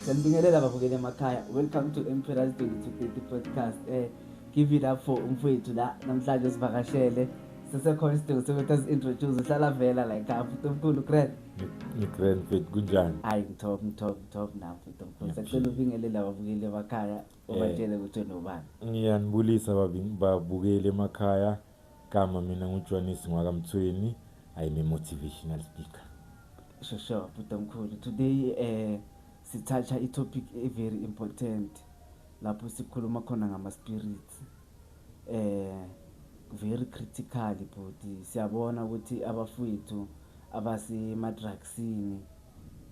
Sanibingelela babukeli emakhaya. Welcome to Emperor's 2230 podcast. Eh give it up for umfowethu la namhlanje sivakashele. Sisekhona isidingo sokuthi azi-introduce uhlala vela la ekhaya futhi omkhulu grand. Ngigrand fit kunjani? Hayi ngithob ngithob ngithob nam futhi omkhulu. Sacela ubingelela babukeli emakhaya ubatshele ukuthi unobani. Ngiyanibulisa babi- babukeli emakhaya. Gama mina nguJwanisi Ngwakamthweni, I'm a motivational speaker. Sure, sure, Bhuti Mkhulu. Today eh sithatha i-topic e very important lapho sikhuluma khona ngama spirits. Eh very critical bhuti. Siyabona ukuthi abafowethu abasema drugsini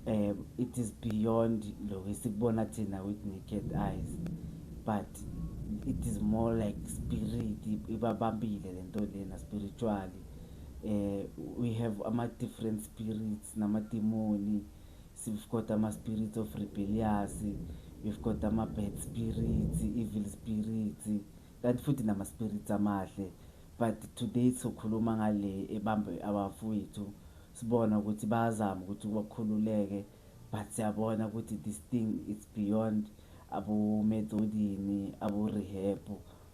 um it is beyond lokho esikubona thina with naked eyes but it is more like spirit ibabambile le nto lena spiritually um we have ama-different spirits namadimoni we've got ama-spirits of rebellious we've got ama-bad spirits evil spirits kanti futhi nama-spirits amahle but today sokhuluma ngale ebambe abafowethu Sibona ukuthi bayazama ukuthi bakhululeke but siyabona ukuthi this thing it's beyond abometsodini aborehab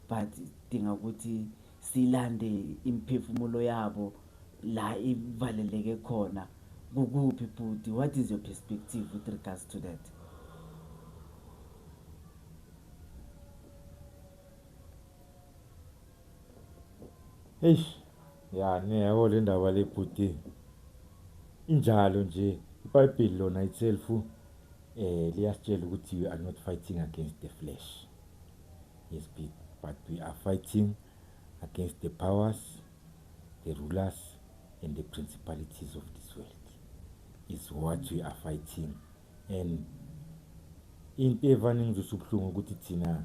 but dinga ukuthi silande imiphefumulo yabo la ivaleleke khona kukuphi bhuti what is your perspective with regards to that Eish ya niyabo le ndaba le bhuti injalo nje ibhayibheli lona itself um eh, liyasitshela ukuthi we are not fighting against the flesh yes but we are fighting against the powers the rulers and the principalities of this world is what we are fighting and into evane ngizwisa ubuhlungu ukuthi thina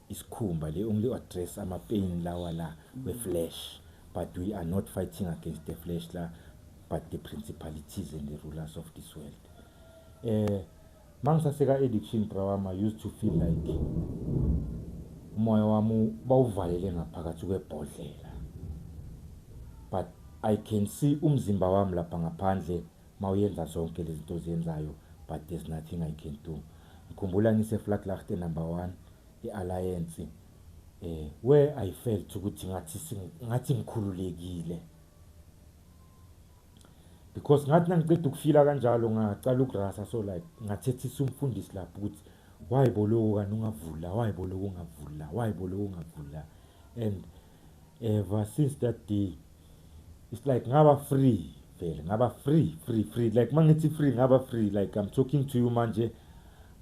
isikhumba they only address ama pain lawa la we flesh but we are not fighting against the flesh la but the principalities and the rulers of this world eh mangisaseka addiction brawama used to feel like umoya wami bawuvalele ngaphakathi kwebhodlela but i can see umzimba wami lapha ngaphandle Mawuyenza zonke lezinto oziyenzayo but there's nothing I can do. Ngikhumbula ngise Vlaklachte number 1 eAlliance eh where I felt ukuthi ngathi ngathi ngikhululekile. Because ngathi nangiqeda ukufila kanjalo ngaqala ukurasa so like ngathethisa umfundisi lapho ukuthi why boloku kanti ungavula why boloku ungavula why boloku ungavula and ever since that day it's like ngaba free vele ngaba free free free like mangithi free ngaba free like i'm talking to you manje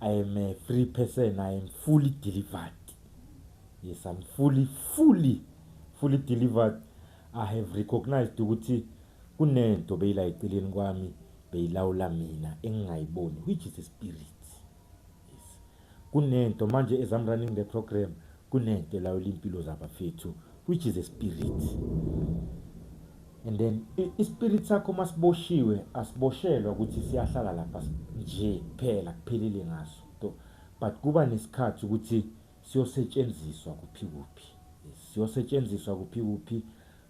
i am a free person i am fully delivered yes i'm fully fully fully delivered i have recognized ukuthi kunento beyila eceleni kwami beyilawula mina engingayiboni which is a spirit Kunento manje as I'm running the program kunento elawula impilo zabafethu which is a spirit and then ispirit sakho masiboshiwe asiboshelwa ukuthi siyahlala lapha nje kuphela kuphelile ngaso to but kuba nesikhathi ukuthi siyosetshenziswa kuphi kuphi siyosetshenziswa kuphi kuphi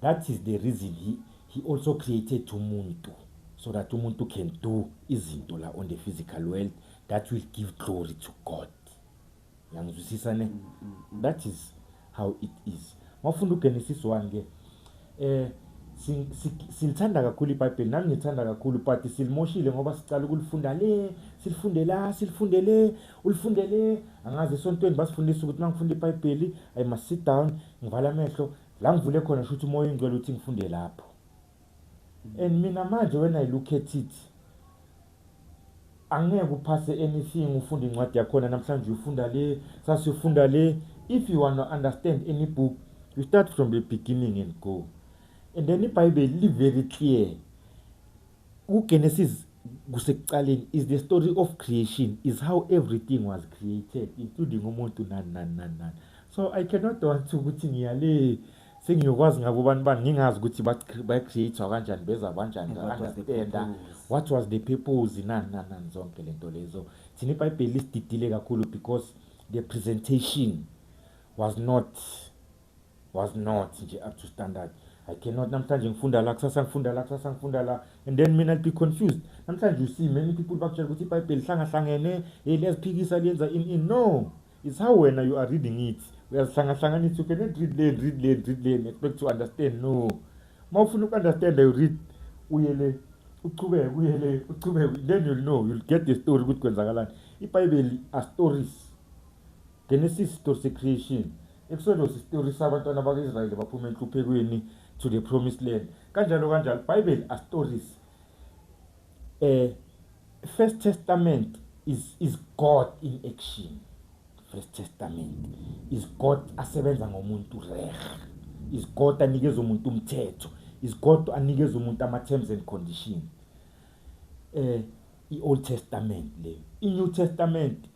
That is the reason he, he also created umuntu so that umuntu can do izinto la on the physical world that will give glory to God. Yangizwisisa ne? Mm, mm, mm. That is how it is. Mawufunda uGenesis 1 ke eh silithanda kakhulu iBhayibheli nami ngithanda kakhulu but silimoshile ngoba sicala ukulifunda le silifunde la silifunde le ulifunde le angazi esontweni basifundisa ukuthi mangifunda iBhayibheli i must sit down ngivala amehlo La ngivule khona shuthi umoya oyingcwele uthi ngifunde lapho. And mina manje when I look at it angeke uphase anything ufunde incwadi yakhona namhlanje uyifunda le sase uyifunda le if you want to understand any book you start from the beginning and go and then ibhayibheli li-very clear kuGenesis kusekuqaleni is the story of creation is how everything was created including umuntu nani nani nani nani so i cannot want ukuthi ngiyale sengiyokwazi ngabo bantu bani ngingazi ukuthi bacreatwa kanjani beza banjani understanda what was the purpose nani nani nani zonke le nto lezo thina ibhayibheli lisididile kakhulu because the presentation was not was not nje up to standard i cannot namhlanje ngifunda la kusasa ngifunda la kusasa ngifunda la and then mina be confused namhlanje you see many people bakutshela ukuthi ibhayibheli hlangahlangene hey liyaziphikisa liyenza in in no it's how wena you are reading it uyazihlangahlanganisa you cannot read lane read lane read lane expect to understand no uma ufuna uku-understanda you read uye le uchubeke uye le uchubeke then you'll know you'll get the story ukuthi kwenzakalani ibhayibheli are stories Genesis sitori secreation Exodus isitori sabantwana baka-Israyeli baphuma enhluphekweni to the promised land kanjalo kanjalo Bible are stories eh First Testament is is God in action First Testament is God asebenza ngomuntu reh is God anikeza umuntu umthetho is God anikeza umuntu ama terms and conditions eh iOld Testament le iNew Testament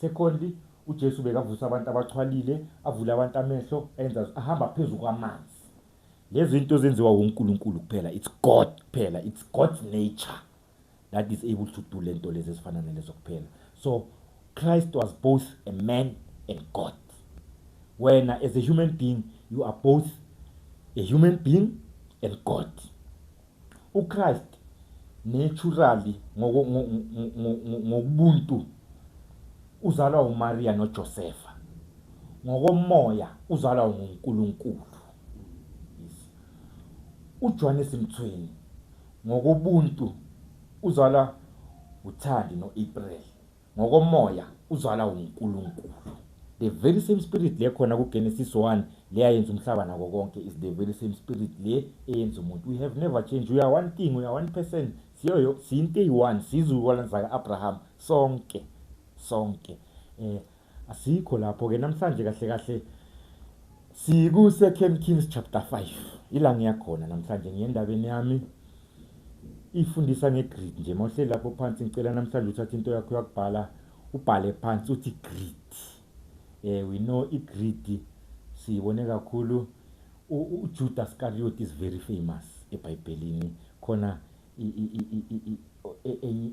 Secondly, uJesu bekavusa abantu abaxhwalile, avule abantu amehlo, enza ahamba phezu kwamanzi. Lezi zinto zenziwa uNkulunkulu kuphela, it's God kuphela, it's God's nature that is able to do lento lezi ezifana nalezo kuphela. So Christ was both a man and God. Wena as a human being, you are both a human being and God. UChrist naturally ngokubuntu uzalwa uMaria noJosefa. Ngokomoya uzalwa nguNkulunkulu. UJohannes Mthweni ngokobuntu uzalwa uThandi noApril. Ngokomoya uzalwa uNkulunkulu. The very same spirit le khona ku Genesis 1 le ayenza umhlaba nako konke is the very same spirit le eyenza umuntu. We have never changed. We are one thing, we are one person. Siyoyo siyinto eyi-one, siyizukulwane zaka Abraham sonke. Sonke. Eh asikho lapho ke namhlanje kahle kahle siku Second Kings chapter 5. Ila ngiyakhona namhlanje ngiyendabeni yami. Ifundisa nge-grid nje mawuhleli lapho phansi ngicela namhlanje uthathe into yakho yakubhala ubhale phansi uthi grid eh we know i-grid siyibone kakhulu uJuda Iscariot is very famous eBhayibhelini khona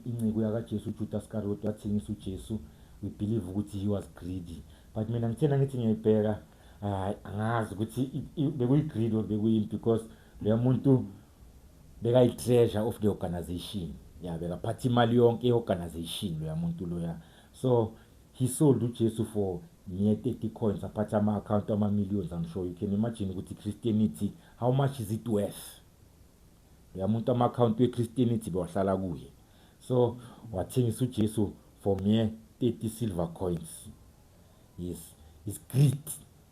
inceku yakaJesu uJuda Iscariot wathengisa uJesu we believe ukuthi he was greedy but mina ngithena ngithi ngiyayibheka hayi angazi ukuthi bekuyi-greed or bekuyini because leyo muntu bekayi-treasure of the organization ya bekaphatha imali yonke ye-organization loya muntu loya so he sold ujesu for mere 30 coins aphatha ama-akhawunti ama-millions i'm sure you can imagine ukuthi christianity how much is it worth loya muntu ama-akhawunti we-christianity bewahlala kuye so wathengisa ujesu for mere 30 silver coins yes is greed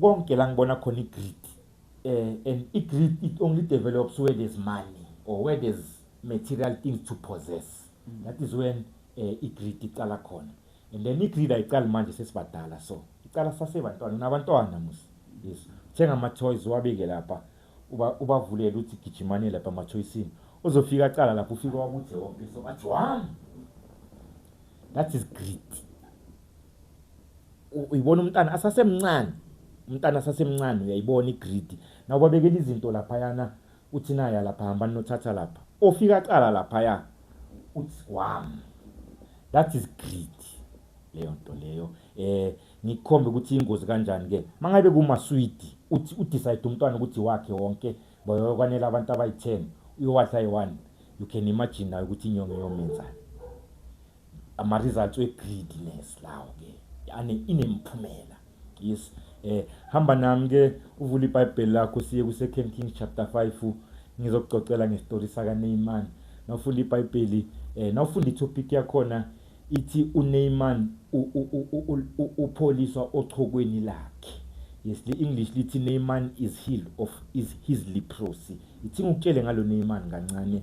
Konke la ngibona khona i-greed. Uh, and i-greed it only develops where there's money or where there's material things to possess. Mm. That is when uh, eh, i-greed iqala khona. And then i-greed ayiqali manje sesibadala so. Iqala sasebantwana, unabantwana musi. Yes. Thenga ama-toys wabeke lapha. Uba ubavulele uthi gijimane lapha ama-toysini. Uzofika aqala lapho ufika wakuthi wonke so athi wami. That is greed. uyibona umntana asasemncane umntana asasemncane uyayibona igrid nawo babekela izinto laphayana uthi naya lapha hamba ninothatha lapha ofika cala laphaya uthi wam that is greed leyo nto leyo eh ngikhombe ukuthi ingozi kanjani ke mangabe kuma sweet uthi u decide umntwana ukuthi wakhe wonke bayokwanela abantu abayi10 uyowadla yi1 you can imagine nayo ukuthi inyongo yomenza ama results we greediness lawo ke ane inemphumela yes eh hamba nami ke uvula iBhayibheli lakho siye ku Second Kings chapter 5 ngizokucocela ngestory saka Naaman nawufunda iBhayibheli eh nawufunda itopic yakhona ithi uNeymar upholiswa ochokweni lakhe yes the english lithi Neymar is healed of is his leprosy ithi ngikutshele ngalo Neymar kancane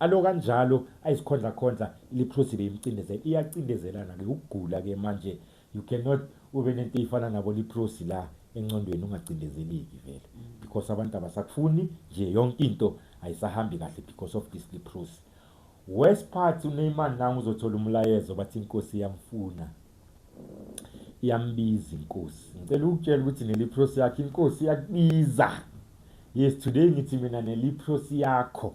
Alo kanjalo ayisikhondla khondla iliphuzi beyimcindezela iyacindezelana ke ukugula ke manje you cannot ube nento eyifana nabo liphuzi la encondweni ungacindezeleki vele because abantu abasakufuni nje yonke into ayisahambi kahle because of this liphuzi worst part uNeymar nangu uzothola umlayezo bathi inkosi iyamfuna iyambiza inkosi ngicela ukutshela ukuthi neliphuzi yakhe inkosi iyakubiza yes today ngithi mina neliphuzi yakho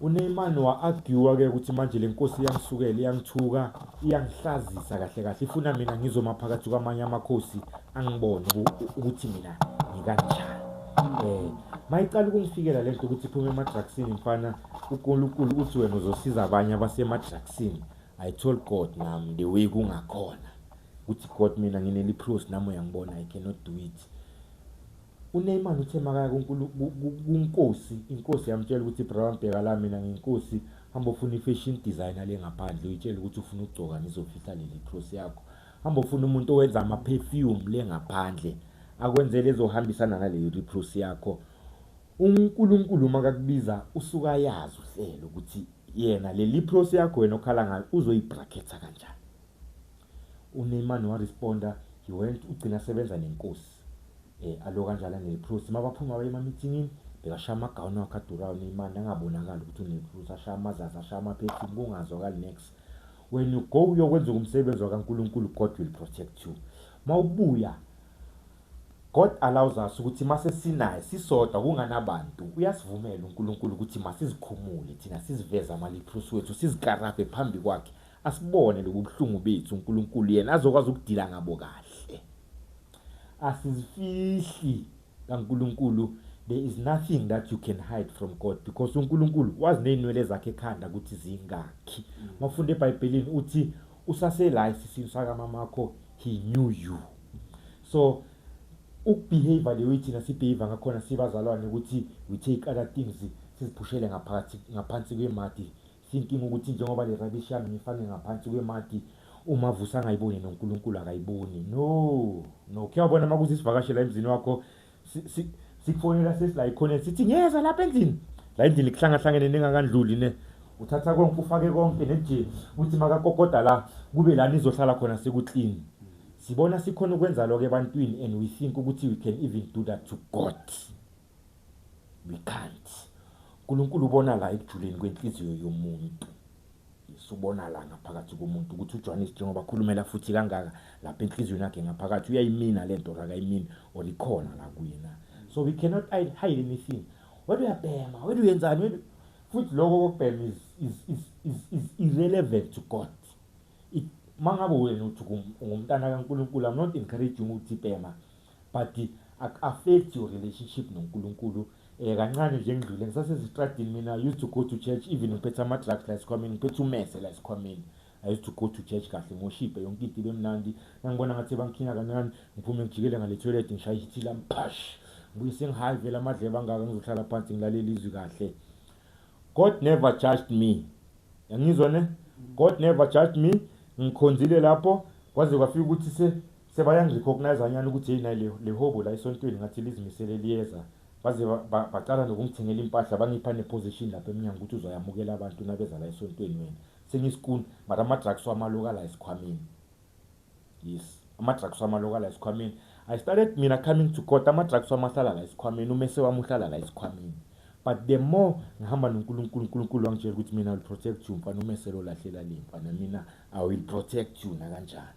UNeymar wa-arguer ke ukuthi manje le nkosi iyangisukela, iyangithuka, iyangihlazisa kahle kahle. Ifuna mina ngizoma phakathi kwamanye amakhosi angibone ukuthi mina ngikanjani. Eh, mayiqala ukungifikela lento ukuthi iphume emadrugsini mfana, uNkulunkulu uthi wena uzosiza abanye abasemadrugsini. I told God nami the way kungakhona ukuthi God mina ngineliphiwo nami uyangibona I cannot do it. UNeyman uthe makaya kuNkosi, iNkosi yamtshela ukuthi Brown bheka la mina nginkosi hamba ofuna i-fashion designer le ngaphandle uyitshele ukuthi ufuna ukugcoka ngizofihla leli cross yakho. Hamba ofuna umuntu owenza ama-perfume le ngaphandle akwenzele ezohambisana naleyo repross yakho. UNkulunkulu uma kakubiza usuke ayazi uhlelo ukuthi yena leli pross yakho wena okhala ngayo uzoyibraketha kanjani. UNeymar no responder he went ugcina asebenza nenkosi eh alo kanjalo aneliprosi uma baphuma baye emamithinini bekashaya amagawuni wakhe adurayo Neymar nangabonakali ukuthi uneliprosi ashaya amazazi ashaya amaphethini kungazwakali nex when you go uyokwenza umsebenzi wakaNkulunkulu God will protect you mawubuya God allows us ukuthi mase sinaye sisodwa kunganabantu uyasivumela uNkulunkulu ukuthi masizikhumule thina siziveze amaliprosi wethu sizikarabhe phambi kwakhe Asibone lobu buhlungu bethu uNkulunkulu yena azokwazi ukudila ngabo kahle. Asizifihli kaNkulunkulu there is nothing that you can hide from God because uNkulunkulu wazi nezinwele zakhe ekhanda ukuthi zingakhi. Mm. Mafunda eBhayibhelini uthi usase la isisini saka mamakho he knew you. So ukubehave leyo ithina sibehave ngakhona sibazalwane ukuthi we take other things siziphushele ngaphakathi ngaphansi kwemadi Thinking ukuthi njengoba le rubbish yami ngifake ngaphansi kwemati uma vusa angayiboni noNkulunkulu akayiboni no no kuyabona makuze isivakashe la emzini wakho sikufonela sesi la ikhona sithi ngiyeza lapha endlini la endlini kuhlangahlangene ningakandluli ne uthatha konke ufake konke neje uthi makakokoda la kube la nizohlala khona sekuclean sibona sikhona ukwenza lokho ebantwini and we think ukuthi we can even do that to God We can't. Nkulunkulu ubona la ekujuleni kwenhliziyo yomuntu. Yesu ubona la ngaphakathi komuntu ukuthi uJohannes njengoba khulumela futhi kangaka lapha enhliziyweni yakhe ngaphakathi uyayimina le nto akayimini or ikhona la kuye na. So we cannot hide anything. Wena uyabhema, wena uyenzani, wena futhi lokho kokubhema is, is, is, is, is irrelevant to God. It, mangabe wena uthi ungumntana kaNkulunkulu, I'm not encouraging ukuthi bhema but ak affect your relationship noNkulunkulu eh kancane nje ngidlule ngisasezitradini mina used to go to church even ngiphethe ama drugs la esikhwameni ngiphethe umese la esikhwameni I used to go to church kahle ngoshipe yonke into ibemnandi ngangibona ngathi bangikhinga kancane ngiphume ngijikele ngale toilet ngishaya ithi la mpash ngibuye sengihayi vele amadleba angaka ngizohlala phansi ngilalele izwi kahle God never judged me yangizwa ne God never judged me ngikhonzile lapho kwaze kwafika ukuthi se Sebayangi-recognize-a nyani ukuthi hheyi nayi le, le hobho la esontweni ngathi lizimisele liyeza. Baze ba, ba, baqala nokungithengela impahla bangipha ne-position lapha emnyango ukuthi uzoyamukela abantu nabeza la esontweni wena. Sengiyisikuni but ama-drugs wami aloka la esikhwameni. Yes, ama-drugs wami aloka la esikhwameni. I started mina coming to court ama-drugs wami ahlala la esikhwameni, umese wami uhlala la esikhwameni. But the more ngihamba noNkulunkulu, uNkulunkulu wangitshela ukuthi mina I will protect you mfana umese lo lahlela le mfana mina I will protect you nakanjani.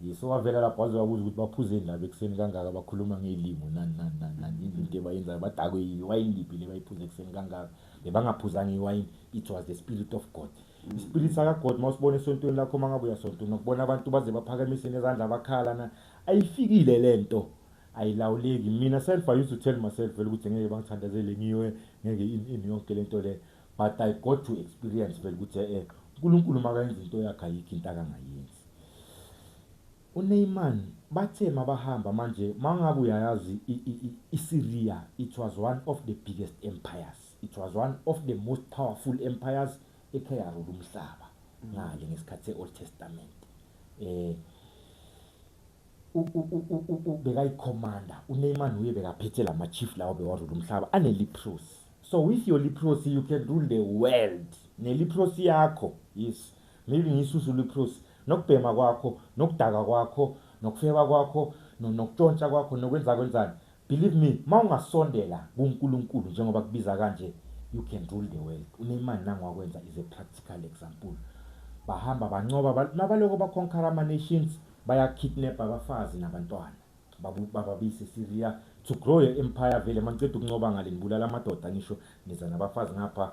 Yes, owavela lapho waze wabuza ukuthi baphuzeni laba ekuseni kangaka bakhuluma ngey'limu nani nani nani nani yini into ebayenzayo badakwe yini iwayini liphi le bayiphuze ekuseni kangaka bebangaphuzanga iwayini it was the spirit of god ispirit sakagod uma usibona esontweni lakho uma ngabe uyasontweni nokubona abantu baze baphakamise nezandla bakhala na ayifikile le nto ayilawuleki mina self i used to tell myself vele ukuthi ngeke bangithandazele ngiwe ngeke ini yonke le nto le but i got to experience vele ukuthi e-e unkulunkulu makayenza into yakhe ayikho into akangayenzi UNeyman bathe mabahamba manje mangabe uyayazi iSyria it was one of the biggest empires it was one of the most powerful empires ekhe yarula umhlaba ngale ngesikhathi se-Old Testament eh bekayikhomanda uNeyman uye bekaphethe la ma-chief lawo bewarule umhlaba aneliprosi so with your leprosy you can rule the world neliprosi yakho yes Maybe ngiyisuzulu iprosi nokubhema kwakho nokudaka kwakho nokufeba kwakho nokutshontsha kwakho nokwenza kwenzani believe me mawungasondela kuNkulunkulu njengoba kubiza kanje you can rule the world unemani nangwakwenza is a practical example bahamba bancoba nabaloko bakhonkhara ama nations bayakidnap abafazi nabantwana bababise Syria to grow your empire vele maniceda ukuncoba ngale nibulala amadoda ngisho niza nabafazi ngapha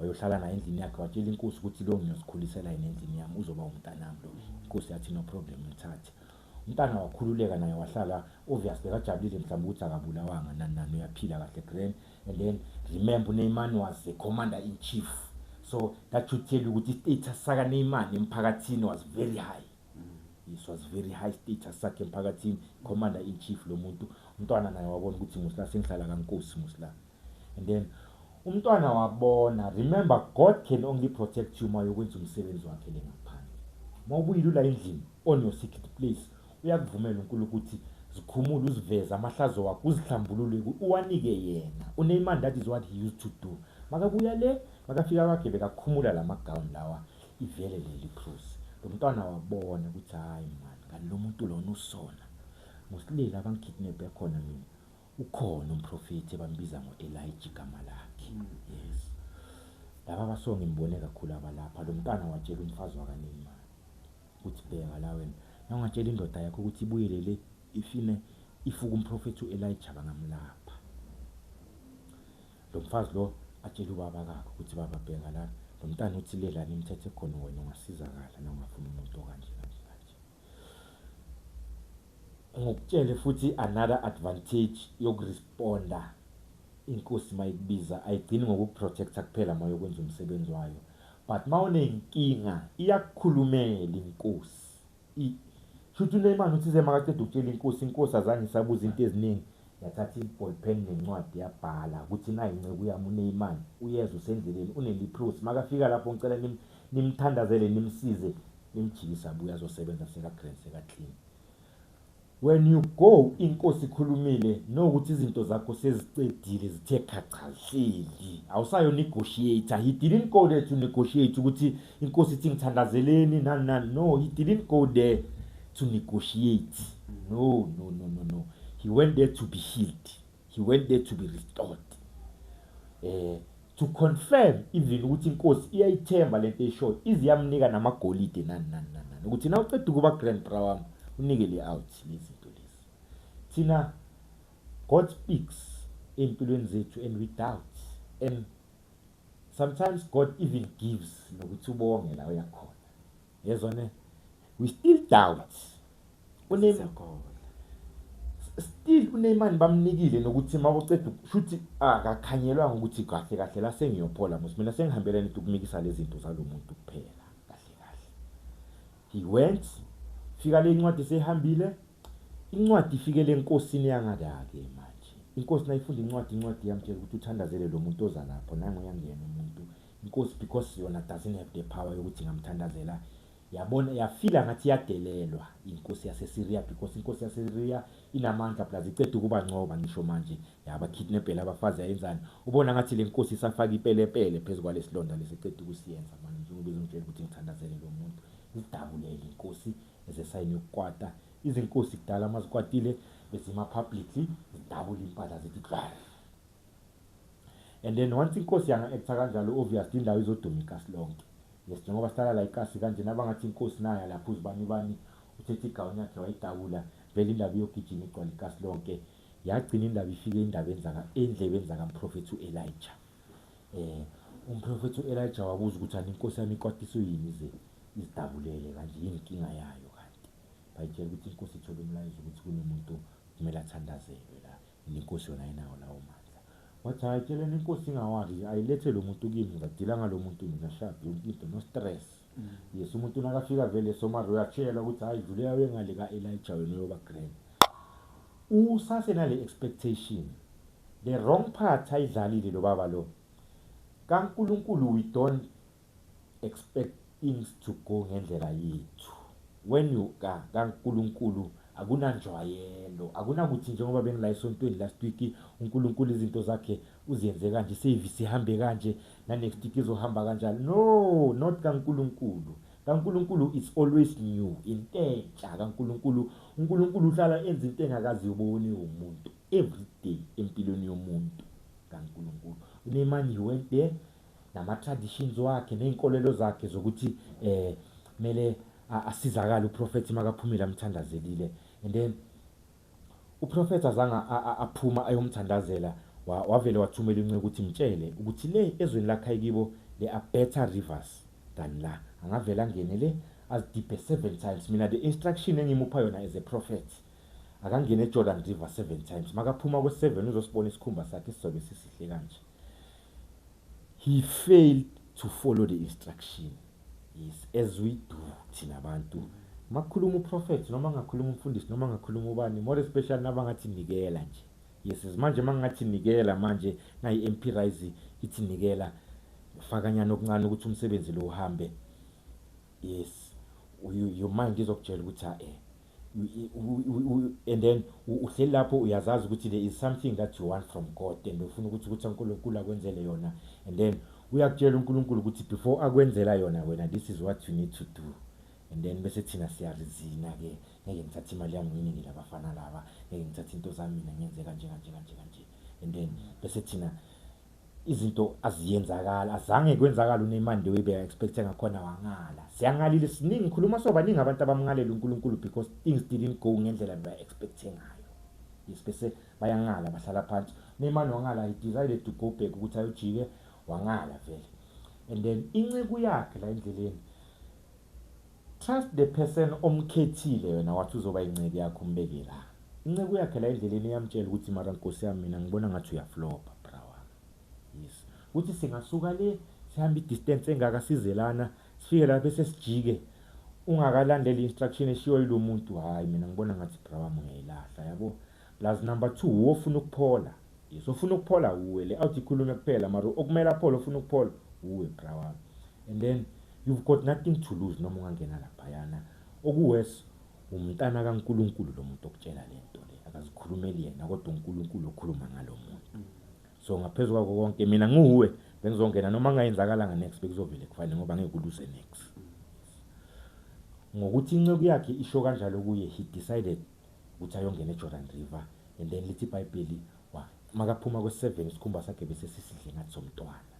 wayohlala naye endlini yakhe watshela inkosi ukuthi lo ngiyozikhulisela yena endlini yami uzoba umntanami lo inkosi yathi no problem mthathe umntana wakhululeka naye wahlala obvious bekajabulile mhlawumbe ukuthi akabulawanga nani nani uyaphila kahle grand and then remember uneymani was the commander in chief so that should tell you ukuthi istatus sakaneymani emphakathini was very high this was very high status sakhe emphakathini commander in chief lo muntu umntwana naye wabona ukuthi musla sengihlala kankosi musla and then umntwana wabona remember god can only protect you uma yokwenza umsebenzi wakhe le ngaphandle uma ubuyile ula endlini on your secret place uyakuvumela unkulunkulu ukuthi zikhumule uziveze amahlazo wakho uzihlambulule uwanike yena uneymani that is what he used to do makabuya le makafika kwakhe bekakhumula la magawuni lawa ivele leli phuzi lo mntwana wabona ukuthi hhayi mani kanti lo muntu lona usona ngosilele abangikidnebhe khona mina Ukhona umprofethi ebambiza ngo-Elijah igama lakhe. Mm. Yes. Laba baso ngimbone kakhulu abalapha lo mntana watshela umfazi wakanina ukuthi bheka la wena nawungatshela indoda yakho ukuthi ibuyele le ifine ifuka umprofethi u-Elijah bangamlapha. Lo mfazi lo atshela ubaba kakhe ukuthi baba bheka lana lo mntana uthi lelani imithetho ekhona wena ungasizakala nawungafuni umuntu okanje. Ngikutshele futhi another advantage yokuresponda inkosi mayikubiza ayigcini ngokukuprotecta kuphela mayokwenza umsebenzi wayo but mawunenkinga iyakukhulumela inkosi I, shuthi uNeymar uthi semakaqeda ukutshela inkosi inkosi azange isabuza into eziningi yathatha iball pen nencwadi yabhala ukuthi nayi inceku yami uNeymar uyeza usendleleni uneliprosi makafika lapho ngicela nim, nimthandazele nimsize Nilijikisa abuye azosebenza seka grand seka clean. When you go inkosi ikhulumile know ukuthi izinto zakho sezicedile zithe khacha zihleli. Awusayo negotiate. He didn't go there to negotiate ukuthi inkosi ithi ngithandazeleni nani nani. No, he didn't go there to negotiate. No, no, no, no, no. He went there to be healed. he went there to be restored eh to confirm even ukuthi inkosi iyayithemba lento eshoyo iziyamnika namagolide nani nani nani ukuthi na uqeda ukuba grand bra wami unike le out lezinto lezi thina god speaks empilweni zethu and we doubt and sometimes god even gives nokuthi ubonge la uyakhona yezwa ne we still doubts uneymar still uneymar bamnikile nokuthi mawuceda shuthi akakhanyelwa ukuthi kahle kahle la sengiyophola musi mina sengihambela ngithi ukumikisa lezi zinto zalomuntu kuphela kahle kahle he went fika le ncwadi seyihambile incwadi ifike lenkosini yangakake manje inkosi nayifunda incwadi incwadi yamtshela ukuthi uthandazele lo muntu oza lapho nangu yangena umuntu Inkosi because yona doesn't have the power yokuthi ngamthandazela yabona yafila ngathi yadelelwa inkosi yaseSyria because inkosi yaseSyria inamandla plus icede ukuba ncoba ngisho manje yaba kidnapela abafazi yayenzani ubona ngathi le nkosi isafaka ipelepele phezulu kwalesilonda lesicede ukusiyenza manje njengoba izongitshela ukuthi ngithandazele lo muntu zidabulele inkosi ezesayini yokukwata izinkosi kudala mazikwatile bezima publicly zidabula impahla zithi And then once inkosi yanga actor kanjalo obvious indawo izoduma ikasi lonke. Yes njengoba sihlala la ikasi kanje nabangathi inkosi naya lapho uzibani bani uthethe igown yakhe wayidabula vele indaba iyogijima igcwala ikasi lonke. Yagcina indaba ifike indaba enzaka endlebeni zaka mprofethi uElijah. Eh umprofethi uElijah wabuza ukuthi ani inkosi yami ikwatiso yini ze izidabulele kanje yini inkinga yayo kanti. Bayitshela ukuthi inkosi ithole umlayezo ukuthi kunomuntu kumele athandazelwe la Nenkosi yona ayinawo lawo mandla. Wathi hayi tshela nenkosi ingawakhi nje ayilethe lo muntu kimi ngizadila ngalo muntu mina shab yonke into no stress. Mm. Yes umuntu nakafika vele somari uyatshelwa ukuthi hayi dlulela uye ngale ka Elijah wena uyoba grand. Usase nale expectation. The wrong part ayidlalile lo baba lo. KaNkulunkulu we don't expect things to go ngendlela yethu when you ka kaNkulunkulu akunanjwayelo akunakuthi njengoba bengila esontweni last week uNkulunkulu izinto zakhe uziyenze kanje service ihambe kanje na next week izohamba kanjalo no not kaNkulunkulu kaNkulunkulu is always new intentsha kaNkulunkulu uNkulunkulu uhlala enza into engakazi yoboni umuntu every day empilweni yomuntu kaNkulunkulu unemani he went there nama traditions wakhe nezinkolelo zakhe zokuthi eh mele asizakala uProphet makaphumile amthandazelile and then uProphet azanga aphuma ayomthandazela wavele wathumela inceku ukuthi mtshele ukuthi le ezweni lakhe kibo they are better rivers than la angavela ngene le azidibhe seven times mina the instruction engimupha yona as a prophet akangene eJordan River seven times makaphuma kwe-seven uzosibona isikhumba sakhe sizobe sisihle kanje He failed to follow the instruction. Yes, as we do thina bantu. Makukhuluma uprofethi noma ngakhuluma umfundisi noma ngakhuluma ubani more especially nabangathi nikela nje. Yes, manje mangathi nikela manje nayi MP Rise ithi nikela fakanyana okuncane ukuthi umsebenzi lo uhambe. Yes. Your mind izokutshela ukuthi ha eh and then uhleli lapho uyazazi ukuthi there is something that you want from god and ufuna ukuthi ukuthi unkulunkulu akwenzele yona and then uyakutshela unkulunkulu ukuthi before akwenzela yona wena this is what you need to do and then bese thina siyarizina ke ngeke ngithathe imali yami nginingi labafana laba ngeke ngithathe into zami mina ngenze kanje kanje kanje kanje and then bese thina izinto aziyenzakala azange kwenzakala uNeymar nje webe expect ngakhona wangala siyangalile siningi khuluma sobaningi abantu abamngalela uNkulunkulu because things didn't go ngendlela ba expect ngayo yes bese bayangala bahlala phansi Neymar wangala he decided to go back ukuthi ayojike wangala vele and then inceku yakhe la endleleni Trust the person omkhethile wena wathi uzoba inceku yakho umbeke la. Inceku yakhe la endleleni iyamtshela ukuthi mara nkosi yami mina ngibona ngathi uyaflopa bra wami. Yes. Ukuthi singasuka le sihambe idistance engaka size lana sifike la bese sijike ungakalandeli instruction eshiwo yilomuntu hayi mina ngibona ngathi bra wami uyayilahla yabo. Plus number two wuwe ofuna ukuphola. Yes ofuna ukuphola wuwe le out ikhulume kuphela mara okumele aphole ofuna ukuphola wuwe bra wami. And then you've got nothing to lose noma ungangena laphayana. Okuworse umntana kaNkulunkulu lo muntu okutshela lento le akazikhulumeli yena kodwa uNkulunkulu okhuluma ngalo muntu. So ngaphezulu kwako konke mina nguwe bengizongena noma ngayenzakalanga next bekuzovele kufanele ngoba ngeke uluze next. Ngokuthi inceku yakhe isho kanjalo kuye he decided ukuthi ayongena eJordan River and then lithi iBhayibheli makaphuma kwe-7 isikhumba sakhe bese sisidle ngathi somntwana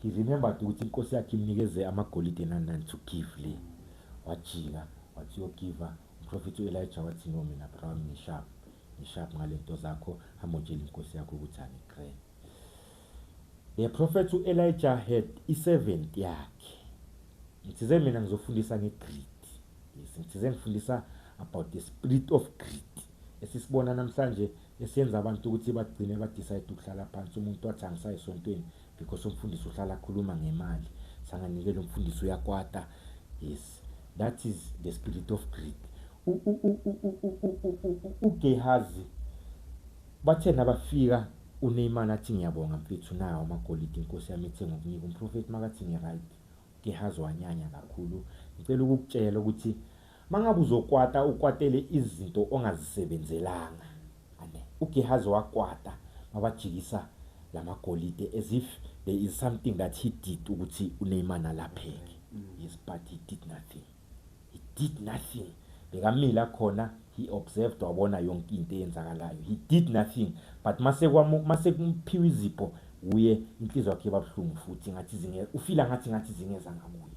he remembered ukuthi inkosi yakhe imnikeze amagolide nanani to give le wajika wathi uyogiva umprofethi u-elija wathi no mina brown ngishap ngishap ngale nto zakho hamotshela inkosi yakho ukuthi angigree The prophet u Elijah had i servant yakhe. Ngithize mina ngizofundisa nge greed. Yes, ngithize ngifundisa about the spirit of greed esisibona namhlanje esiyenza abantu ukuthi bagcine ba decide ukuhlala phansi umuntu wathi angisayi esontweni because umfundisi uhlala akhuluma ngemali sanganikela umfundisi uyakwata yes that is the spirit of greed uGehazi Bathe nabafika uNeymar athi ngiyabonga mfethu nawo amagolide inkosi yami ethe ngokunika umprofethi makathi ngiryt uGehazi wanyanya kakhulu ngicela ukukutshela ukuthi mangabe uzokwata ukwatele izinto ongazisebenzelanga ane uGehazi wakwata mabajikisa lamagolide as if there is something that he did ukuthi uNeymar alapheke yes but he did nothing. he did nothing bekamila khona he observed wabona yonke into eyenzakalayo he did nothing but masekuphiwa izipho wuye inhliziyo yakhe babuhlungu futhi ngathi zinge ufila ngathi ngathi zingeza ngakuye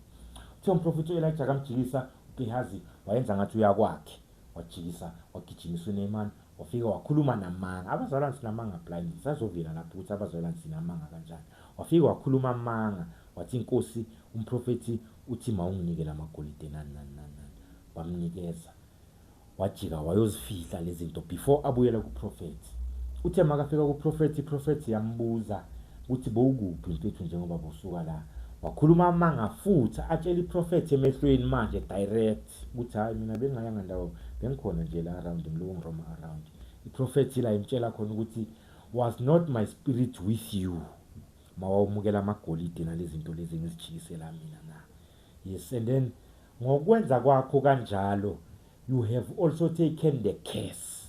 uthe umprofethi u-elija kamjikisa ugehazi wayenza ngathi uyakwakhe wajikisa wagijimisa uneyman wafika wakhuluma namanga abazalwane sinamanga blindly sazovela lapho ukuthi abazalwane sinamanga kanjani wafika wakhuluma amanga wathi inkosi umprofethi Uthi mawunginike lamagolide nani nani nani nani. Bamnikeza. Wajika wayozifihla lezinto before abuyela ku prophet. Uthe makafika ku prophet, i prophet yambuza ukuthi bowukuphi mfethu njengoba bosuka la. Wakhuluma amanga futhi atshela i prophet emehlweni manje direct ukuthi hayi mina bengayanga ndawo bengikhona nje la around ngiloku ngiroma around. I prophet ila imtshela khona ukuthi was not my spirit with you. Mawawumukela amagolide nalezinto lezi engizijikisela mina na? Yes and then ngokwenza kwakho kanjalo you have also taken the curse.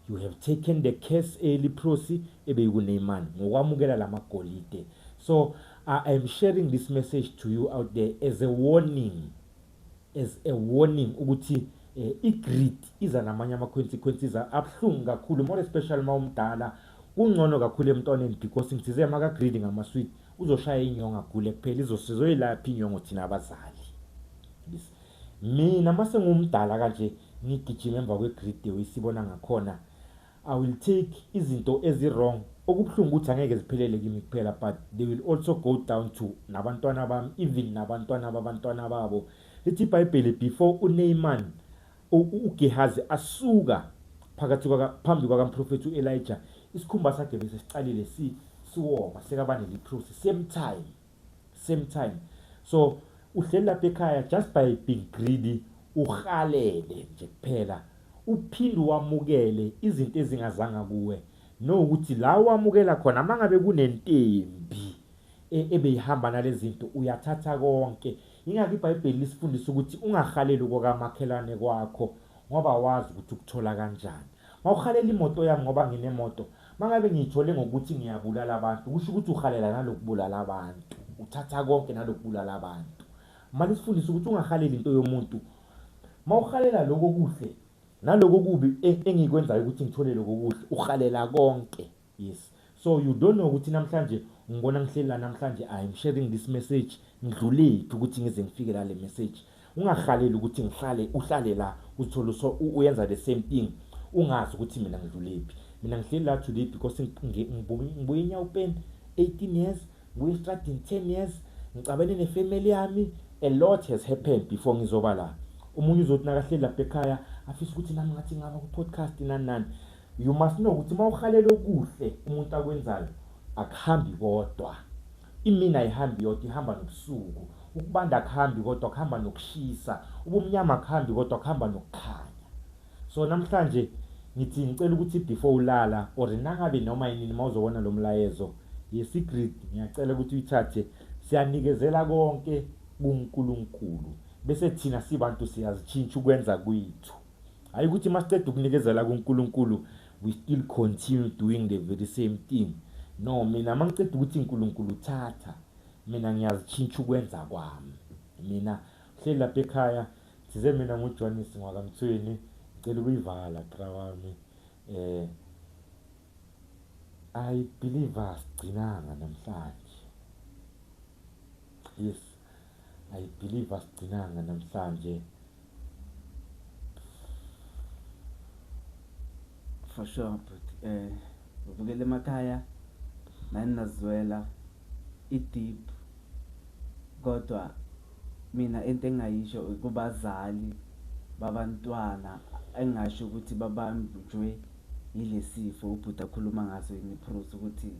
You have taken the curse eliphrosi ebeyikuNeymar ngokwamukela lamagolide. So I am sharing this message to you out there as a warning. as a warning ukuthi eh, i-greed iza namanye ama-consequences abuhlungu kakhulu more especially uma umdala kungcono kakhulu emntwaneni because ngithize maka-greed ngamasweet uzoshaya inyongo agule kuphela izosizoyilaphi inyongo thina abazali mina uma sengumdala kanje ngigijima emva kwe-greed the way sibona ngakhona I will take izinto ezi wrong okubuhlungu ukuthi angeke ziphelele kimi kuphela but they will also go down to nabantwana bami even nabantwana babantwana babo lithi ibhayibheli before uneyman ugehazi asuka phakathi phambi kwakamprofethi u-elija isikhumba sakhe bese siqalile siwoma sekabaneliphusi same time same time so uhleli lapha ekhaya just by being greedy uhalele nje kuphela uphinde wamukele izinto ezingazanga kuwe no ukuthi la wamukela khona mangabe kunentembi e, ebeyihamba nalezinto uyathatha konke ingakho iBhayibheli lisifundisa ukuthi ungahaleli kokamakhelwane kwakho ngoba wazi ukuthi ukuthola kanjani mawuhalela imoto yami ngoba nginemoto Mangabe ngiyithole ngokuthi ngiyabulala abantu kusho ukuthi uhalela nalokubulala abantu, uthatha konke nalokubulala abantu. Manje sifundisa ukuthi ungahaleli into yomuntu. Mawuhalela lokho kuhle naloko kubi e, engikwenzayo ukuthi ngithole lokho kuhle, uhalela konke. Yes. So you don't know ukuthi namhlanje ngibona ngihleli la namhlanje I am sharing this message ngidlulephi ukuthi ngize ngifike la le message. Ungahaleli ukuthi ngihlale uhlale la uzithole so uyenza the same thing ungazi ukuthi mina ngidlulephi. Mina ngihleli la today because ngibuye eNyawupen 18 years, ngibuye estradini 10 years, ngicabene nefamily yami. A lot has happened before ngizoba la. Omunye uzothi nakahleli lapha ekhaya afisa ukuthi nami ngathi ngaba ku-podcast nani nani. You must know ukuthi uma uhalela okuhle umuntu akwenzayo akuhambi kodwa. Imini ayihambi yodwa ihamba nobusuku. Ukubanda akuhambi kodwa kuhamba nokushisa. Ubumnyama akuhambi kodwa kuhamba nokukhanya. So namhlanje ngithi ngicela ukuthi before ulala or nangabe noma yini uma uzobona lo mlayezo yesigrid ngiyacela ukuthi uyithathe siyanikezela konke kuNkulunkulu bese thina sibantu siyazitshintsha ukwenza kwethu hayi ukuthi masiqeda ukunikezela kuNkulunkulu we still continue doing the very same thing no mina mangiqeda ukuthi uNkulunkulu thatha mina ngiyazitshintsha ukwenza kwami mina hleli lapha ekhaya size mina nguJonis ngwakamthweni ngicela ukuyivala qra wami eh I believe asigcinanga namhlanje yes I believe asigcinanga namhlanje for sure but eh ubukele emakhaya nani nazwela i-deep kodwa mina into engingayisho kubazali babantwana engingasho ukuthi babanjwe yilesifo ubhuti akhuluma ngaso yini i-proof ukuthi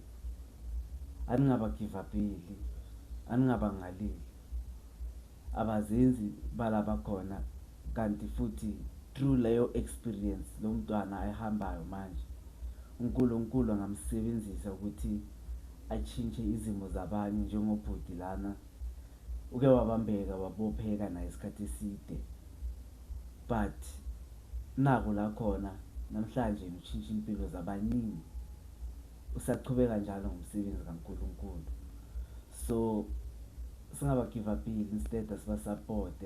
Aningabagivapeli, aningabangaleli, abazenzi balabakhona kanti futhi through leyo experience lomntwana ayihambayo manje uNkulunkulu angamsebenzisa ukuthi atshintshe izimo zabanye njengobhuti lana uke wabambeka wabopheka naye isikhathi eside but naku lakhona namhlanje utshintshe impilo zabaningi. usaqhubeka njalo ngomsebenzi kaNkulunkulu so singaba give up instead asiba support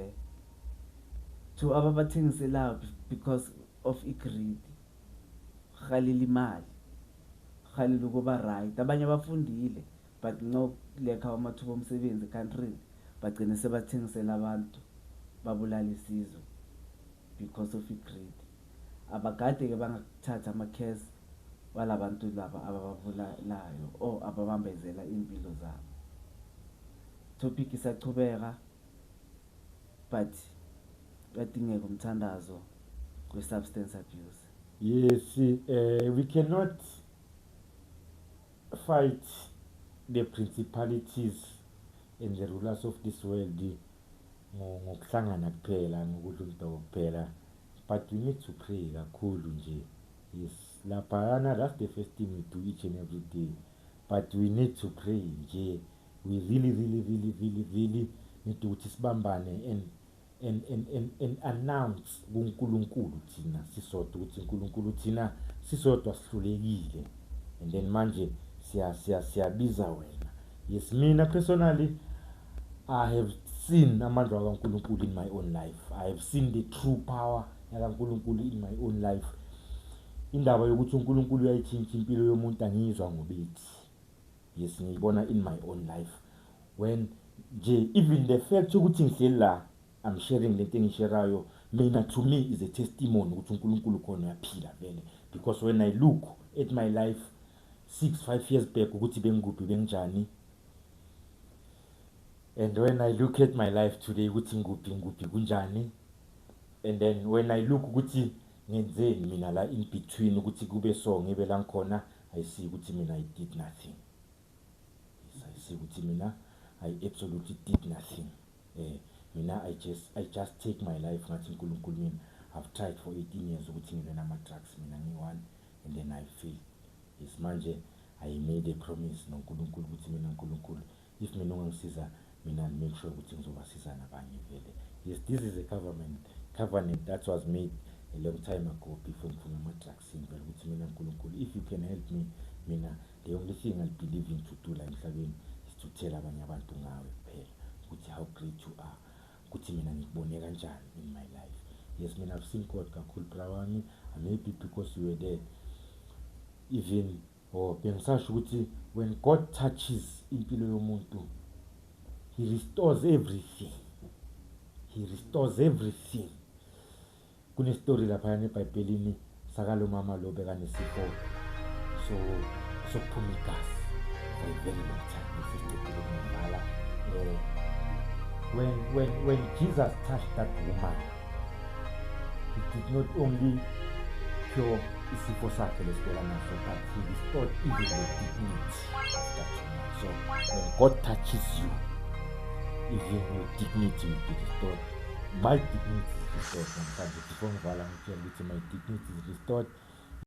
to ababathengiselayo because of igreed halile imali halile ukuba right abanye abafundile but ncokulekha amathuba omsebenzi country bagcine sebathengisela abantu babulala isizwe because of i greed abagade ke bangakuthathi ama case walabantu laba ababavulalayo or ababambezela impilo zabo topic isachubeka but kuyadingeka umthandazo we substance abuse yes uh, we cannot fight the principalities and the rulers of this world ngokuhlangana kuphela ngokudla umdoko kuphela but we need to pray kakhulu nje yes laphayana that's the first thing we do each and every day but we need to pray nje we really really really really really need ukuthi sibambane and and and and, and announce kuNkulunkulu thina sisodwa ukuthi uNkulunkulu thina sisodwa sihlulekile and then manje siya siya siyabiza wena yes mina personally i have seen amandla kaNkulunkulu in my own life i have seen the true power yakaNkulunkulu in my own life indaba yokuthi uNkulunkulu uyayitshintsha impilo yomuntu angiyizwa ngobethi yes ngiyibona in my own life when nje even the fact ukuthi ngihleli la I'm sharing lento engisherayo mina to me is a testimony ukuthi uNkulunkulu khona uyaphila vele because when I look at my life 6 5 years back ukuthi bengikuphi benginjani and when I look at my life today ukuthi ngikuphi ngikuphi kunjani and then when I look ukuthi ngenzeni mina la in between ukuthi kube so ngibe la ngikhona I see ukuthi mina I did nothing I see ukuthi mina I absolutely did nothing eh mina I just I just take my life ngathi uNkulunkulu mina I've tried for 18 years ukuthi ngibe nama drugs mina ngiyi-one and then I fail yes manje I made a promise noNkulunkulu ukuthi mina uNkulunkulu if mina ungangisiza mina I'll make sure ukuthi ngizobasiza nabanye vele yes this is a government covenant that was made a long time ago before ngiphuma ama-drugs sengicela ukuthi mina nkulunkulu if you can help me mina the only thing i believe in to do la emhlabeni is to tell abanye abantu ngawe kuphela ukuthi how great you are ukuthi mina ngikubone kanjani in my life yes mina i've seen god kakhulu bra wami i'm happy because you were there even or oh, bengisasho ukuthi when god touches impilo yomuntu he restores everything he restores everything Kunestori laphayana ebhayibhelini sakalo mama lo bekanesifo so sokuphuma igazi for a very long time sesiqedile ngibhala um eh, when, when, when jesus touched that woman he did not only cure isifo sakhe lesibhela naso but he restored even the dignity of that woman so when god touches you even your dignity will be restored My dignity is restored namhlanje before ngivala ngitshela ukuthi my dignity is restored